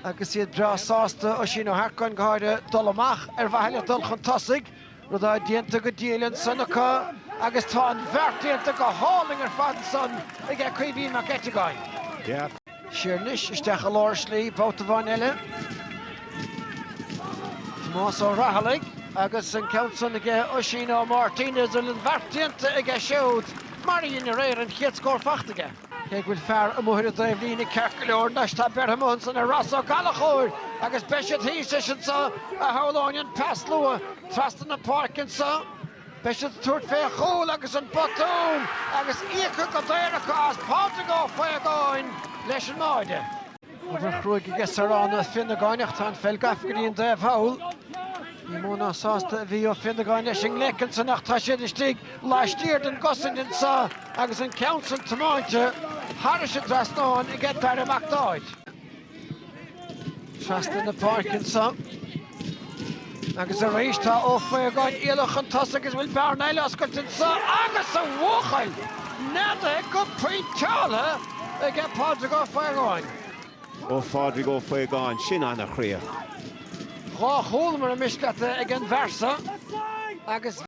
Agus iad breá sásta, Oisín Ó hEarcáin go háirithe, dul amach ar mhaithe le dul chun tosaigh, rud atá déanta go diail ansan acu agus tá an bheart déanta go hálainn ar fad ansan aige Caoimhín Mac Eiteagáin. Siar anois isteach i lár slí babhta amháin eile. Tomás Ó Raghallaigh agus an ceann san aige Oisín Ó Máirtín, idir an bheart déanta aige siúd mar a dhein aréir an chéad scór fachta aige. Cé go bhfuil fear amuigh ar an dtaobhlíne ceart go leor, anois tá beirthe amuigh ansan ar Ros Ó Gallachóir agus beidh siad thíos leis anso a shamhlóinn an pas luath trasna na páirce anso. Beidh siad ag tabhairt fé chúl agus an botún agus íoctha go daor acu as Pádraig Ó Faogáin leis an mbáide. Obair chruaidh aige Sárán Ó Fionnagáin ach tá an pheil gafa go dtí an dtaobh thall. Ní mó ná sásta a bhí Ó Fionnagáin leis an nglaoch ansan ach tá siad istigh laistiar den gcosaint anso agus an ceann san tiomáinte thairis an dtrasnán aige Daire Mac Dáid. Trasna na páirce anso. Agus arís tá Ó Faogáin éalaithe chun tosaigh agus bhfuil bearna eile oscailte anso agus a bhuachaill neadaithe go pointeáilte aige Pádraig Ó Faogáin. Ó Phádraig Ó Faogáin, sin an-chríoch. Dhá chúl mura miste leat ag an bhfear so agus.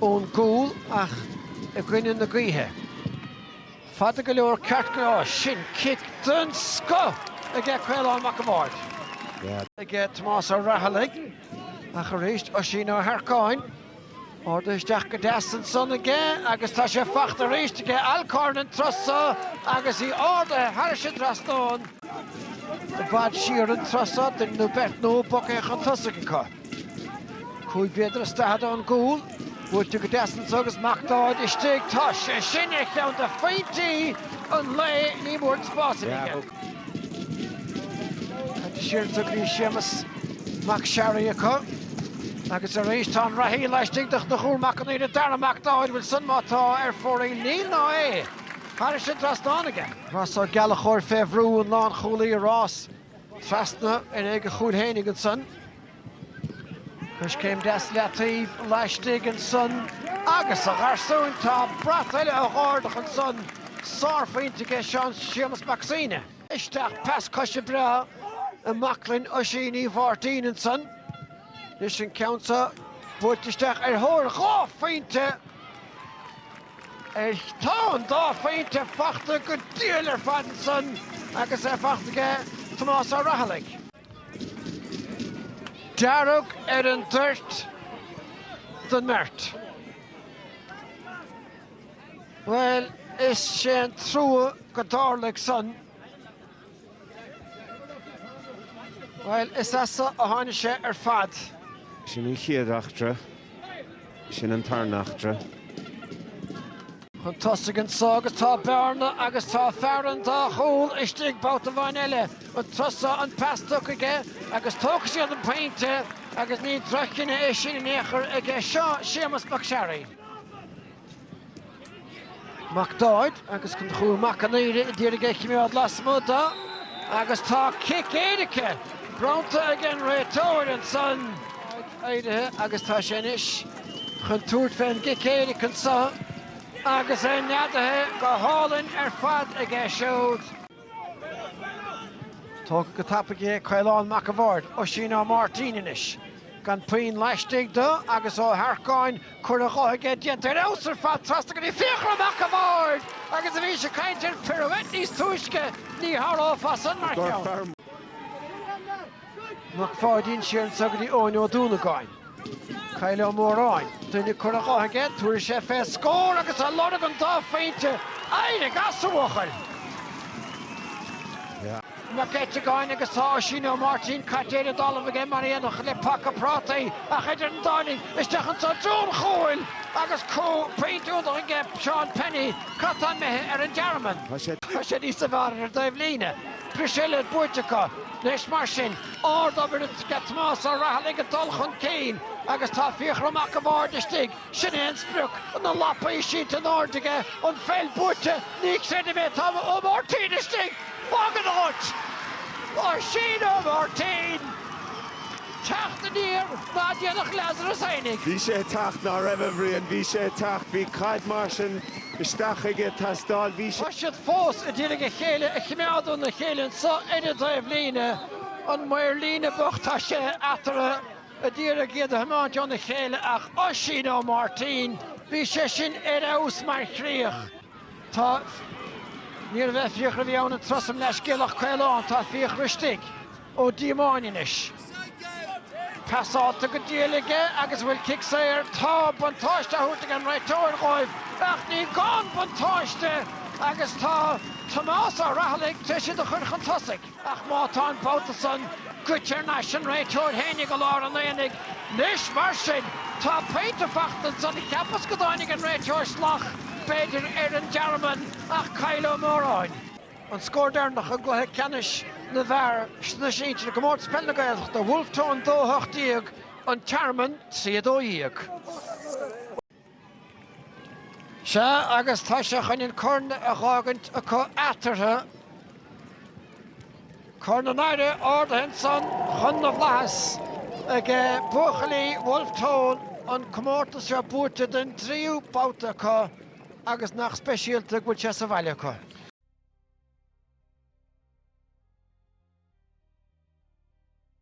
ón gcúl ach i gcoinne na gaoithe. Fada go leor ceart go leor. Sin cic den scoth aige Caolán Mac an Bhaird. Aige Tomás Ó Raghallaigh ach arís Oisín Ó hEarcáin. Ardaithe isteach go deas ansan aige agus tá sé fachta arís aige Alcorn an turas so agus í ardaithe thairis an dtrasnán. I bhfad siar an turas so, duine nó beirt nó, bogtha chun tosaigh acu. Cúig mhéadar is daichead ón gcúl. Buailte go deas ansan agus McDaid istigh. Tá sé sin ar cheann de phointí an lae, ní mór an spás a bhí aige. Caite siar anso go dtí Séamas Mac Sharry acu. Agus arís tá an reathaí laistigh de Chonchúr Mac an Aoire Daire McDaid. Bhfuil san imithe ar fóraoil. Níl ná é. Thairis an dtrasnán aige. Rossa Ó Gallachóir fé bhrú an lánchúlaí i rás. Trasna ar aghaidh a chúil fhéinig ansan. Coiscéim deas i leataoibh laistigh ansan agus a gharsúin tá brat eile dhá ardach ansan. Sárphointe aige Seán Séamus Mac Suibhne. Isteach pas coise breá i mbaclainn Oisín Uí Mháirtín ansan. Anois an ceann seo buailte isteach ar thóir dhá phointe. Is tá an dá phointe fachta go diail ar fad ansan agus é fachta aige Tomás Ó Raghallaigh. Dearg ar an dtoirt don mbeirt. Bhuel, is sé an trua go dtarlaigh san. Bhuel, is as a tháinig sé ar fad. Sin an chéad eachtra, sin an tarna eachtra. Chun tosaigh anseo agus tá Bearna agus tá Ferran dá chúl istigh babhta amháin eile. An tusa an pas tugtha aige agus tógfaidh siad an pointe agus ní drochchinneadh é sin in aon chor ag Séamus Mac Searraigh. McDaid agus Conchúr Mac an Aoire a d'iarraidh é a chimeád lasmuigh de agus tá cic éirice bronnta ag an réiteoir ansan. McDaid éirithe agus tá sé anois chun tabhairt fé an gcic éiric anso agus é neadaithe go hálainn ar fad aige siúd. Tógtha go tapaidh é Caolán Mac a' Bhaird, Oisín Ó Máirtín anois. Gan puinn laistigh do agus Ó hEarcáin, cor á dhéanamh aige déanta ar fheabhas ar fad trasna go dtí Fiachra Mac a' Bhaird agus bhís ag caint ar pirouette níos túisce, ní shárófá san mar cheann. Mac Pháidín, siar ansa ghairdín, Eoin Ó Dúnagáin, Kyle Ó Móráin, duine curtha dhe aige, tabharfaidh sé fé scór agus ag lorg an dá phointe éirigh as a bhuachaill! Mac Eiteagáin agus tá Oisín Ó Máirtín caite ar an dtalamh aige mar aon le paca prátaí ach idir an dá linn isteach ins an dún chúil agus pointe iontach aige Seán Penny, Cad tá imithe ar an dtearmann? Tá sé thíos i bhfearr ar an dtaobh líne. Briseadh eile buaite acu, leis, mar sin. Ardobair aige Tomás Ó Rathallaigh ag dul chun cinn agus tá Fiachra Mac a' Bhaird istigh, sin é an sprioc, na lapaí sínte in airde aige, an pheil buaite, ní chreidim é, tá Ó Máirtín istigh, fág an áit! Oisín Ó Máirtín! Teacht aniar ná déanfadh Lazarus fheinig. Bhí sé ag teacht, ná raibh, a Bhriain, bhí sé ag teacht, bhí caid mar sin. isteach ag teastáil. Bhí. Tá siad fós a d'iarraidh a chéile a chimeád óna chéile anso ar an dtaobh líne. An maor líne bocht tá sé eatarthu a d'iarraidh iad a thiomáint óna chéile ach Oisín Ó Máirtín, bhí sé sin ar fheabhas mar chríoch. Tá. Níorbh é Fiachra a bhí ann an turas san, mo leathscéal, ach Caolán. Tá Fiachra istigh. Ó Diomáin anois. Pasálta go diail aige agus a bhfuil cic saor. Tá buntáiste á thabhairt ag an réiteoir dhóibh ach ní gá an buntáiste agus tá Tomás Ó Rathallaigh tar éis iad a chur chun tosaigh. Ach má tá an babhta san goite ar n-ais an réiteoir fhéinig i lár an aonaigh nois mar sin tá poinnte fachta ansan. Cheapas go dtáinig an réiteoir salach b'fhéidir ar an dtearmann ach Kyle Ó Móráin. an scór deireanach i gcluiche ceannais na bhfear sna sinsir i gComórtas Peile na Gaeltachta, Wolfe Tone 2 18, An Tearmann 3 12. Sea, agus tá sé chun an corn a dh'fhágaint acu eatarthu. Corn an Aire ardaithe insan chun na bhflaitheas ag buachaillí Wolfe Tone, an comórtas seo buaite den dtríú babhta acu, Agus nach speisialta go bhfuil sé sa bhaile acu.